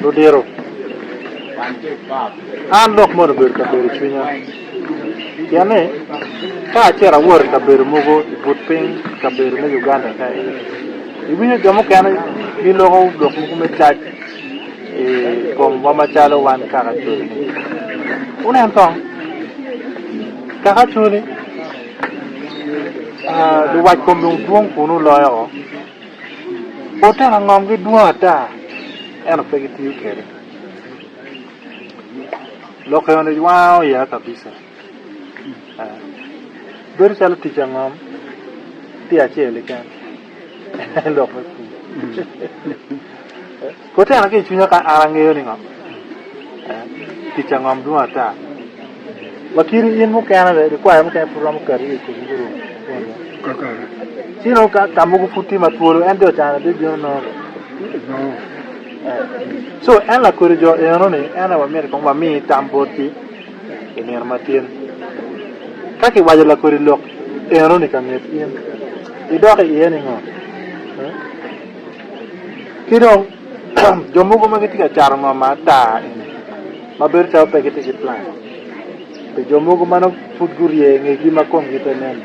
Ludito, an dok mono obedo ka bedo i cwinya, pien ni ka acito awot i kabedo mogo i but piny i kabedo me Uganda ka eni, iwinyo jo mukene giloko lok mogo me cac i komwa macalo wan kaka col-li. Wunen kong, kaka col-li, luwac kom dong dwong kun oloyo woko. Oteno ngomgi dwong ata, ento pe gitiyo kwede. Lok eno wango ya kabisa. Bedo calo tic angom tye acel keken. Lok me pur. Kotena ki i cwinya ka an angeyo ni ngo tic angom dwong ata. Wa kiri in mukene be likwaya mukene pud romo kati i tic gurum. Cino ka ka mogo pud tye ma twolo en jo cana bi bino nono. So en lakodi jo eno ni en aye wamyero kong wami tam bot ki i nino ma tin. Ka ki wajo lakodi lok eno ni ka nget in idoko iye ni ngo? Ki dong jo mogo ma gitye ka cato ngo ma ata eni ma bedo calo pe gitye ki plan pi jo mogo ma nongo pud gurye i ngegi ma komgi pe nen-ni,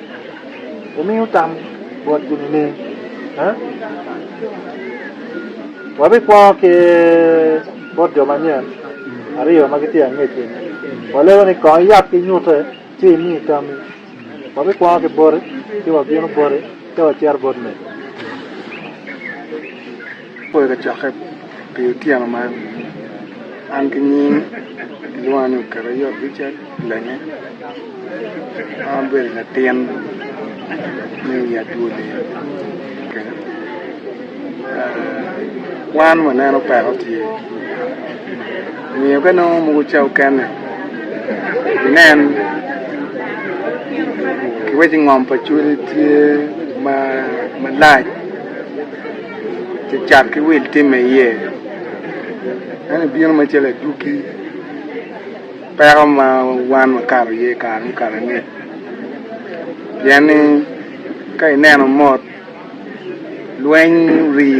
wumiyo tam botgi nining? Wabikwo ki bot jo manyen aryo ma gitye angec eni, waleko ni, 'Kong iyab ki nyute. Ci imi tammi, Wabikwongo ki boti, ci wabino boti, ci wacito bot mego. Apoyo kacokke pi otyeno man. An ki nying gilwonga ni Oketo Ayot Richard Lenge. An abedo latin me wi adwoli kenya. Kwan waneno peko tye. Omiyo ka nongo mogo ca okene, nen, kiwec ni ngom pa cwiny tye malac cacat ki wil tim ma iye, ento bino macalo adwogi peko ma wan wakato iye i kare mukato ni, pien ni ka ineno mot lweny ori.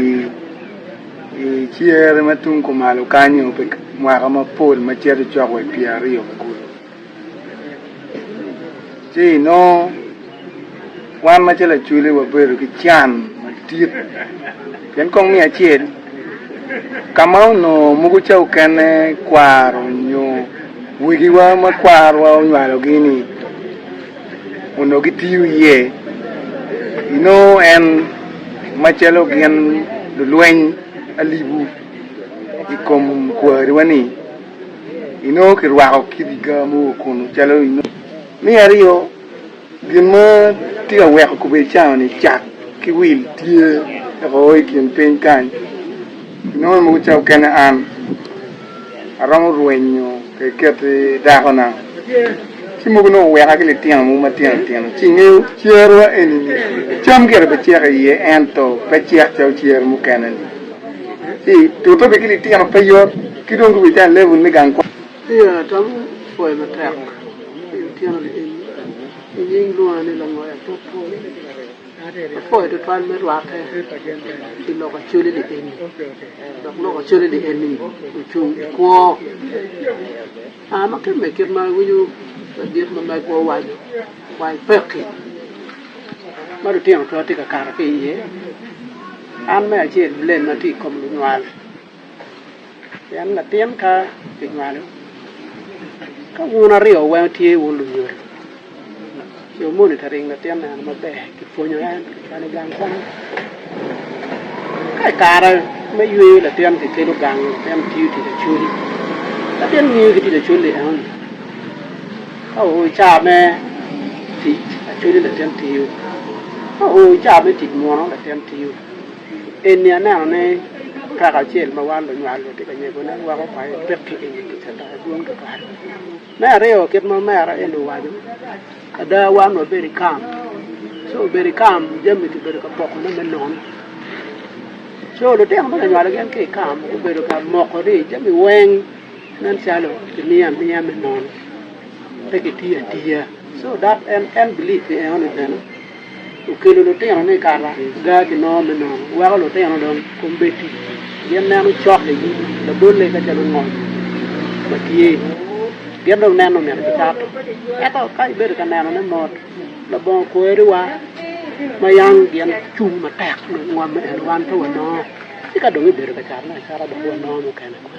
I cere ma tung kumalo kanyo pi mwaka mapol ma cito cok wa i pyeraryo me kulu, ci inongo wan macalo Acholi wabedo ki can madit pien kong miyo acel ka ma onongo mogo ca okene kwaro nyo wegiwa ma kwarowa onywalogi-ni, onongo gitiyo iye. Inongo en macalo gin lulweny alibu i kom kwariwa-ni, inongo kirwako kidiga mo wa kunu calo inongo. Me aryo, gin ma tye ka weko kobedi cawa-ni, cat ki wil tye woko i kin piny kany, inongo mogo ca okene an. Aromo rwenyo keket dakona ci mogo nongo weka ki litino mogo matino tino ci ngeyo cer wa eni ni cam gire be cek iye ento pe cek calo cer mukene ni ci tute be ki litino pe yot ki dong gubedo calo level me gang kwon. Iya atamo pwoyo matek litino ni eni inying lwonga ni Langoya Pop Pol. Apoyo tutwal me rwatte pi lok acwele lienni, dok lok acwele lienni ocung i kwo. Aa ma kemme kit ma iwinyo ladit ma megwa owaco, wai pekki ma lutino twatye ka kato ki iye. An me acel blame atye i kom lunywal. Pien latin ka kinywalo, ka wun aryo weng tye wun lunyodo, co moni ka ring latin neno maber, kipwonyo en, kikelo gang kwan. Ka i kare me yweyo latin kikelo gang, latin tiyo tic acwali. Latin ngiyo ki tic acwali enoni. Ka oo i caa me tic acwali latin tiyo. Ka oo i caa me tic muno latin tiyo. Eni anenone kaka acel ma wan lunywal watye ka nyegone weko pa epek ki i nge kica dok edwong tutwal. Me aryo kit ma omera eni owaco, ada wan wabedo i kam co obedo i kam jami kibedo ka pokone me nono co lutino ma kinywalo gin ki i kam gubedo ka moko ni jami weng nen calo kimiyo amiya me nono pe kitiyo atiya co dok en en believe pi enoni bene. Okelo lutinone i kara gar ki nongo me nono, weko lutino dong kom bed tic tic. Gin neno cok i nyim labolle ka calo ngom ma tye. Gin dong neno omyero gikato. Ento ka ibedo ka nenone mot, labongo kweriwa ma yang gin cung matek nongo ngom eno wan pe wanongo. Ci ka dong ibedo ka catone acata dok wanongo mukene kwan.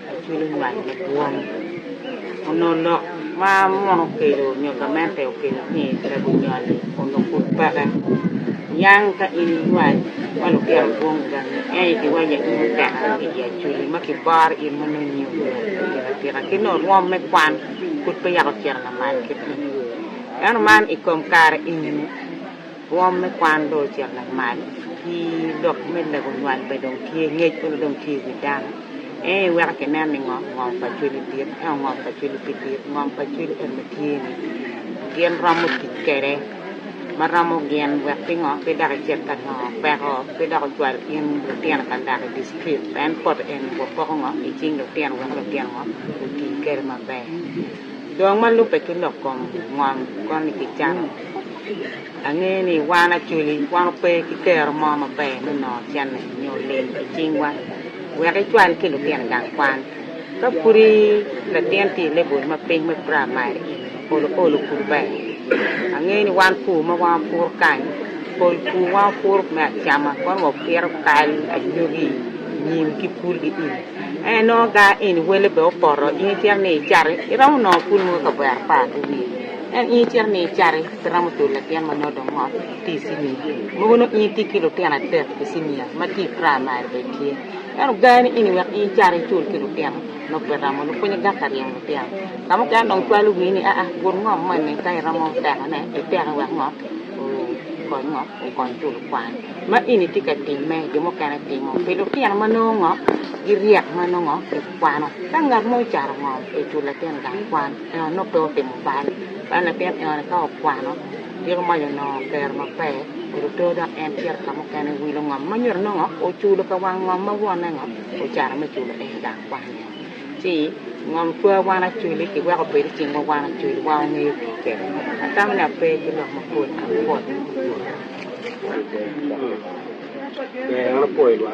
Acwilo nywal madwong onongo lok ma munu okelo nyo gamente okelo ni lego nywal-li onongo pud peke. Niang ka in iywal ma lutino dwong gangi ento ikiwanya in mutekere ki i Acwili ma kiboro in ma nongo inge nywal atika atika ki nongo rwom me kwan pud pe yako ocito lamal kit ma nongo iye. Ento man i kom kare enini. Rwom me kwan dong ocito lamal, ki lok me lego nywal bene dong tye, ngec bene dong tye i wi dano. Ento iweko kinen ni ngo, ngom pa cwinyi dit. Ento ngom pa cwiny pe dit, ngom pa cwiny en ma tye ni gin romo tic kwede ma romo gin wek pingo pe dok icit ka nongo peko, pe dok ocwal in lutino ka lak i district. En poto eni wapoko ngo i cing lutino wek lutino ngo oti kwede maber. Dong ma lubbe ki lok kom ngom koni kicano. Angeyo ni wan Acholi wan ope ki kero mo maber me nongo cene nyo lim i cingwa wek icwal ki lutino i gang kwan. Ka pudi latin tye i lebol ma piny me praimari, olo olo pud ber. Angeyo ni wan pur ma wan wapuro kany, pol pur wan wapuro me acama kono wapito kal, anyogi, nyim ki pul ki im. Ento inongo gange eni wele bene opoto in icito ni icato iromo nongo pul mogo i kavera apar ki wiye. Ento in icito miyo icati, pe iromo tye latin ma nongo dong ngot tye i cinia, mogo nongo in itye ki lutino adek i cinia ma tye i praimari bene tye. Ento gar ni eni wek in icati icul ki lutino nongo pe iromo, lupwonye gak aryemo lutino. Ka mukene dong cwalo wii ni aa gut ngom moni ka iromo tekone, iteke wek ngot okony ngo, okony culo kwan. Ma eni tye ka timme, jo mukene timo pi lutino ma nongo ngo giryek ma nongo gikwano. Ka ngat mo ocaro ngom pe icul latin gang kwan. Eno onongo pe otimo bal, ento latin eno-ni ka okwano, ciko mac onongo kero maber, oruto dok en cito ka mukene wilo ngom ma nyuto nongo oculo ka wang ngom ma wonne ngo ocano me culo en gang kwan ni oo. Ci ngom cwa wan aculi ki weko obed i cingwa wan aculi wan wangeyo tii kwede. Atamo ni ape ki lok mapol ampot i wi.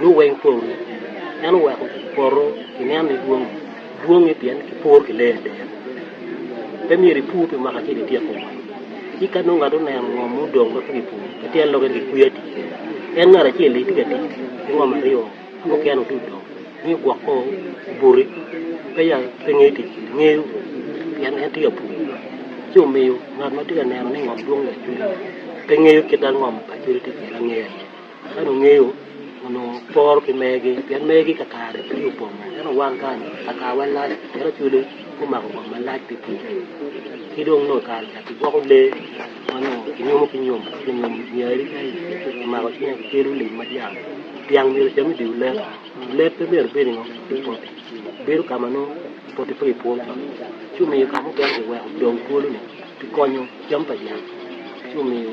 nio weng pol en oweko poto ki nen ni dwong dwonge pien ki puro ki lee atir pe myero i pur pi mwaka acel i tyeko woko ci ka nongo ngat oneno ngo ma odong ma pe ki puro ki tyen lok en ki kwiyo atir en ngat acel ni tye ka tic ki ngo ma aryo ki mukene odong ni ogwok ko obuti pe ya pe ngeyo tic ngeyo pien en tye ka pur ci omiyo ngat ma tye ka neno ni ngo dwong i acwele pe ngeyo kit dano ngo ma acwele tye kwede angeya iye Ento ongeyo onongo poro ki mergi, pien mergi kakare tye opongo. Ento wan kany, kakawa lac, pien Acholi gumako kom malac pi ticce. Ki dong nongo kare ca kigwoko lee ma nongo kinyumo ki nyom, kinyom nyari ka i, kimako cwinye kikelo lim ma dyang. Dyang myero ocam i dye olet, olet pe myero obed i ngo, i poti. Bedo ka ma nongo poti pe gipwo cok. Ci omiyo ka mukene kiweko dong twolo-ni kikonyo cam pa dyang, ci omiyo.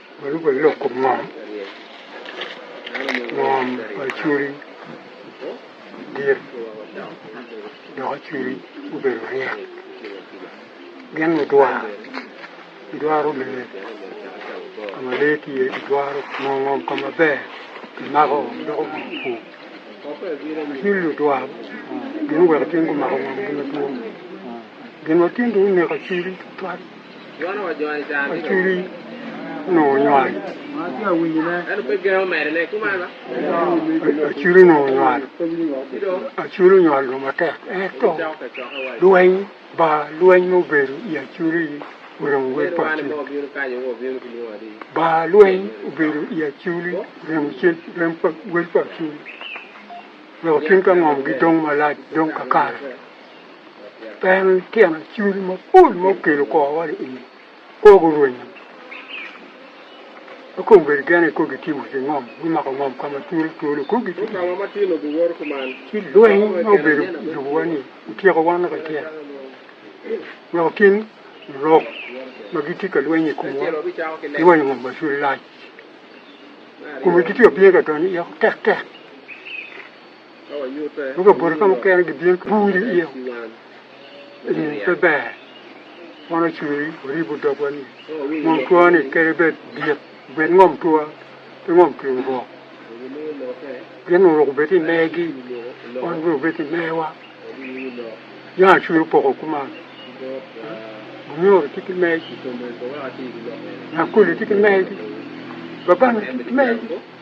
Baluku loko ngom ngom pa cwodi dit doko cwodi obedo ryek. Gin ludwar gidwaro lee ka ma lee tye gidwaro ngom ngom ka maber kimako doko gin pur ci ludwar gin oweko cing gumako ngom madwong gin ma tinde oneko cwidi tutwal. Acwidi onongo nywalo. Acwidi onongo nywalo. Acwidi onywalo dong matek. Ento lweny ba lweny ma obedo i Acwidi oremo wel pa Acwidi. Ba lweny obedo i Acwidi oremo cen rem pa wel pa Acwidi. Wek otim ka ngom gidong malac dong kakare. En tyen cwiny mapol ma okelo kor wa i kor gurwenyo. Kong bedo gen ni kong gitimo ki ngom, gumako ngom ka ma twolo twolo, kong gitye ki lweny ma obedo i lobowa ni otyeko wan lok acel. Weko gin lurok ma gitye ka lweny i komwa giwanyo ngom macul lac. Kome gitye ka bino ka donyo iye tek tek. ma kabodo ka mukene gibino ki bur iye eni pe ber wan ocweri waribo dogwa ni ngom twani kede bed dit obed ngom twa pe ngom twi obok gin onongo obed i megi wan bene obed i mewa jang acwero poko kuman bunyoro tye ki megi nyankole tye ki megi babano tye ki megi